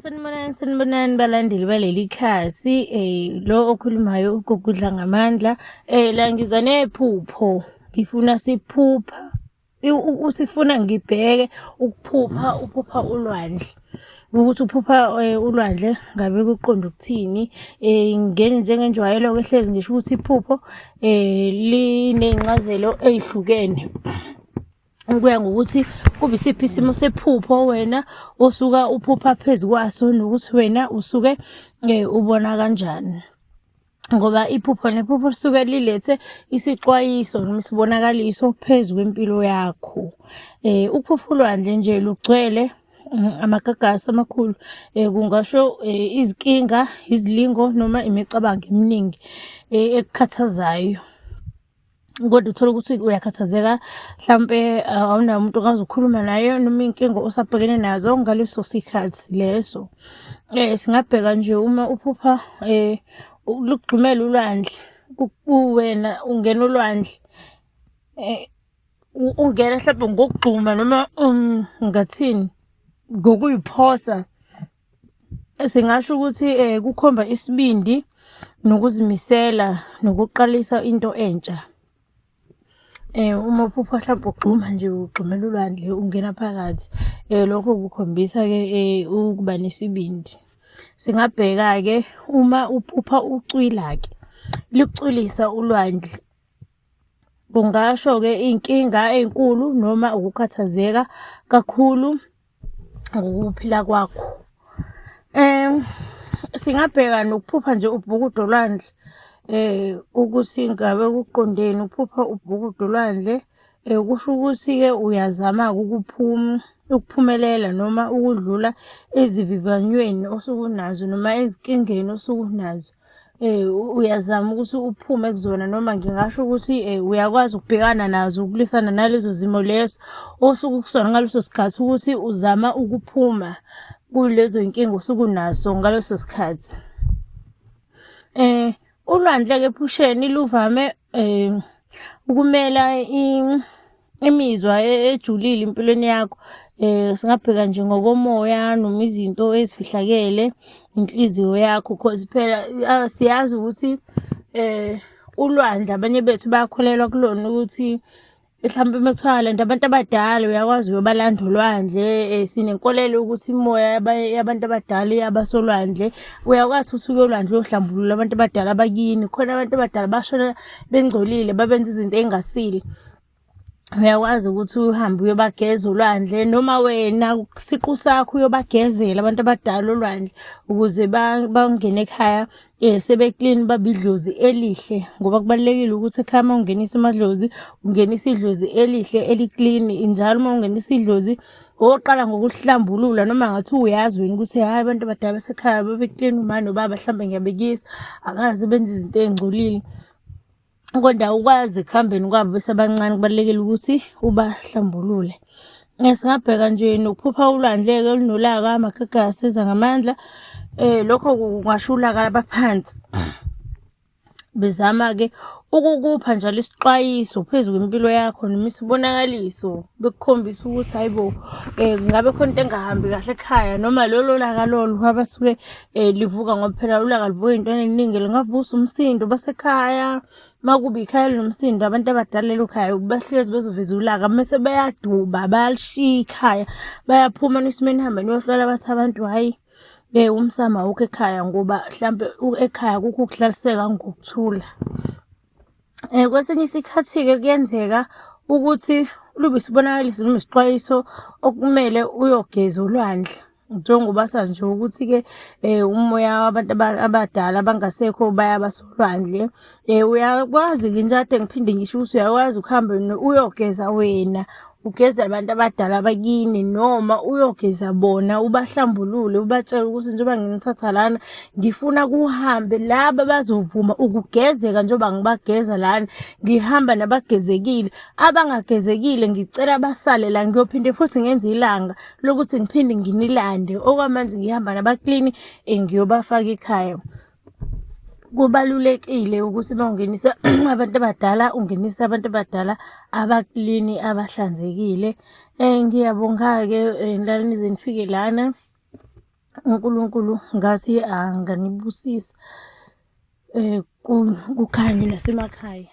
Sanibonani sanibonani balandeli baleli khasi eh lo okhulumayo ugugudla ngamandla eh la ngiza nephupho ngifuna siphupha usifuna ngibheke ukuphupha uphupha ulwandle ukuthi uphupha eh, ulwandle ngabe kuqonda ukuthini eh ngene njengenjwayelo ke hlezi ngisho ukuthi iphupho eh linencazelo ezihlukene kuya ngokuthi kube isiphi isimo sephupho wena osuka uphupha phezu kwaso nokuthi wena usuke eh, ubona kanjani ngoba iphupho nephupho lisuke lilethe isixwayiso noma isibonakaliso phezu kwempilo yakho eh ukuphupha ulwandle nje lugcwele mm, amagagasi amakhulu eh kungasho eh, izinkinga izilingo noma imicabango eminingi eh, ekukhathazayo kodwa uthole ukuthi uyakhathazeka mhlampe uh, awunayo umuntu ongazi ukukhuluma naye noma iy'nkinga osabhekene nazo ngaleso sikhathi leso um singabheka nje uma uphupha um lugxumela ulwandle kuwena ungena ulwandle um ungena mhlawumbe ngokugxuma noma um, ngathini ngokuyiphosa Singasho ukuthi eh kukhomba isibindi nokuzimisela nokuqalisa into entsha. Eh uma uphupha mhlawumbe ugxuma nje ugxumela ulwandle ungena phakathi eh lokho kukhombisa ke eh, ukuba nesibindi. Singabheka ke uma uphupha ucwila ke licwilisa ulwandle kungasho ke inkinga enkulu noma ukukhathazeka kakhulu ngokuphila kwakho um singabheka nokuphupha nje ubhukudo lwandle eh ukuthi ngabe kuqondeni uphupha ubhukudo lwandle eh kusho ukuthi ke uyazama ukuphuma ukuphumelela noma ukudlula ezivivanyweni osukunazo noma ezinkingeni osukunazo eh uyazama ukuthi uphume kuzona noma ngingasho ukuthi eh uyakwazi ukubhekana nazo ukulwisana nalezo zimo leso osuku kusona ngaleso sikhathi ukuthi uzama ukuphuma kulezo inkinga osuku naso ngaleso sikhathi eh ulwandle ke phusheni luvame Eh ukumela imizwa e, ejulile empilweni yakho eh singabheka nje ngokomoya noma izinto ezifihlakele inhliziyo yakho because phela siyazi ukuthi eh ulwandle abanye bethu bayakholelwa kulona ukuthi mhlawumbe uma kuthiwa lento abantu abadala uyakwazi uyobalanda olwandle um sinenkolelo yokuthi imoya yabantu abadala iyabasolwandle uyakwazi futhi ukuyolwandle uyohlambulula abantu abadala bakini khona abantu abadala bashona bengcolile babenza izinto ey'ngasile uyakwazi ukuthi uhambe uyobageza olwandle noma wena siqu sakho uyobagezela abantu abadala olwandle ukuze bangene ekhaya ba Eh sebeklini babidlozi elihle ngoba kubalekile ukuthi ekhaya uma ungenisa amadlozi ungenisa idlozi elihle eliklin njalo uma ungenisa idlozi oqala ngokuhlambulula noma ngathi uyazi wena ukuthi hayi abantu abadala basekhaya babeklin umani nobaba mhlawumbe ngiyabekisa akazi benza izinto ezingcolile kodwa ukwazi ekuhambeni kwabo besebancane kubalulekile ukuthi ubahlambulule singabheka nje nokuphupha ulwandle-ke olunolaka amakhekhe asiza ngamandla um lokho kungasho ulaka labaphansi bezama-ke ukukupha njalo isixwayiso phezu kwempilo yakho noma isibonakaliso bekukhombisa ukuthi hayi bo um eh, ngabe khona into engahambi kahle ekhaya noma lolo laka lolo abasuke eh livuka ngoba phela ulaka livuka intwana eningi lingavusa umsindo basekhaya makuba ikhaya linomsindo abantu abadala elokhaya bahlezi bezoveza ulaka mase bayaduba bayalishiya ikhaya bayaphuma nisimeni hamba niyohlala bathi abantu hayi eh umsama awukho ekhaya ngoba mhlambe ekhaya kukho ukuhlaliseka ngokuthula Eh kwesinye isikhathi ke kuyenzeka ukuthi lube sibonakalisa noma isixwayiso okumele uyogeza ulwandle njengoba sazi nje ukuthi ke eh umoya wabantu abadala abangasekho bayabasolwandle eh uyakwazi ke nje ade ngiphinde ngisho ukuthi uyakwazi ukuhamba uyogeza wena ugeze abantu abadala bakini noma uyogeza bona ubahlambulule ubatshele ukuthi njengoba nginithatha lana ngifuna kuhambe laba bazovuma ukugezeka njengoba ngibageza lana ngihamba nabagezekile abangagezekile ngicela basale la ngiyophinde futhi ngenze ilanga lokuthi ngiphinde nginilande okwamanje ngihamba nabaklini ngiyobafaka ekhaya kubalulekile ukuthi uma ungenisa abantu abadala ungenise abantu abadala abaklini abahlanzekile um ngiyabonga-ke eh, nlalini zenifike lana unkulunkulu ngathi anganibusisa um kukhanye nasemakhaya